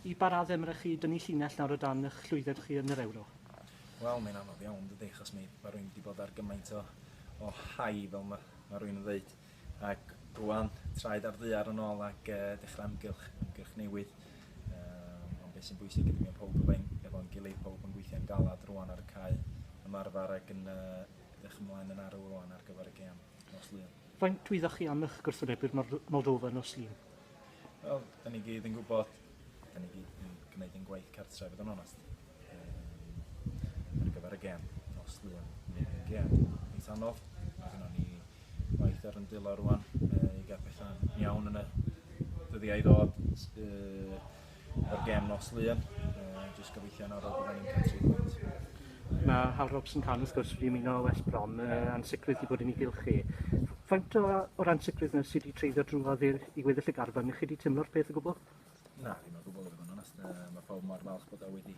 Y pa raddau mae rhaid chi dynnu llinell nawr o dan eich llwyddiant chi yn yr Ewro? Wel, mae'n anodd iawn yn dydi, achos mae mae rwy'n wedi bod ar gymaint o o high, fel mae mae rwy'n yn ddweud, ac rwan, traed ar ddaear yn ôl ac e, dechrau ymgylch, ymgyrch newydd. Yym, ond beth sy'n bwysig ydy mae pawb efo'n efo'n gilydd, pawb yn gweithio'n galed rwan ar y cae, ymarfer ac yn yy edrych ymlaen yn arw rwan ar gyfer y gêm nos Lun. Faint wyddoch chi am eich gwrthwynebwyr Moldofa nos Lun? Wel, da ni gyd yn gwybod, da ni gyd yn gwneud ein gwaith cartre, fod yn onest. Um, ar gyfer y gem, nos lwyn, ni'n ein gem. Mis anodd, mae hynna ni waith ar yn dilo rwan, uh, i gael pethau'n iawn yn y dyddiau i ddod. Uh, o'r gêm nos Lun. Uh, just gobeithio yn arol bod ni'n cael tri pwynt. Mae Hal Robson Can wrth gwrs wedi ymuno o West Brom, uh, ansicrwydd wedi bod yn ei gylchu. Faint o, o'r ansicrwydd yna sydd wedi treiddio drwodd i, i weddill y garfan? Chi wedi teimlo'r peth o gwbl? Na, ddim o gwbl i fod yn onest. Uh, mae pawb mor falch bod o wedi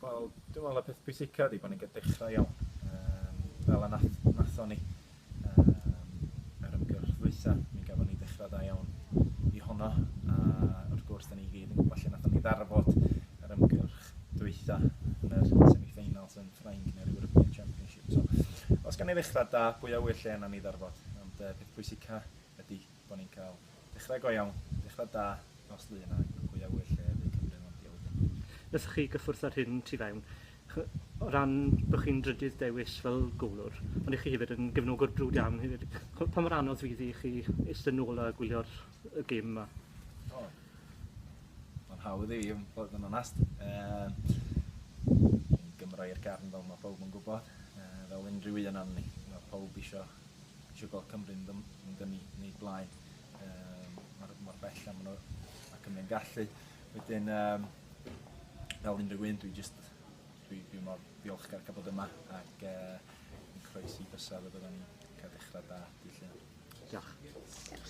Wel, dwi'n meddwl y peth pwysica ydi bod ni'n dechrau iawn, um, fel y nath, nathon ni um, yr ymgyrch ddwytha, mi gafon ni dechrau da iawn i honno, a wrth gwrs, da ni gyd yn gwybod lle nathon ni ddarfod yr ymgyrch dwytha yn yr semi-finals yn Ffrainc neu'r European Championship. So, os gan ni ddechrau da, bwy awyr lle yna ni ddarfod, ond uh, peth pwysica ydy bod ni'n cael dechrau go iawn, dechrau da nos Lun a un o gwyliauwyr lle y bu Cymru'n landio wedyn. Wnaethoch chi gyffwrdd â'r hyn tu fewn, o ran bod chi'n drydydd dewis fel gôlwr, ond y'ch chi hefyd yn gefnogwr brwd iawn hefyd. Pa mor anodd fydd i chi eistedd nôl a gwylio'r y gêm 'ma? O, mae'n hawdd i fi bod yn onest. Ehm, yn Gymro i'r gefn fel mae pawb yn gwybod, ehm, fel unrhyw un o'n ni. Mae pawb eisiau Isio gweld Cymru'n ddym, yn dynnu yn ei blaen. Um, mor, mor bell am nhw a Cymru'n gallu. Wedyn, um, fel unrhyw un, dwi just, dwi, dwi mor ddiolchgar cael bod yma ac uh, yn croesi bysau fe byddwn ni'n cael dechrau da, di lle. Diolch.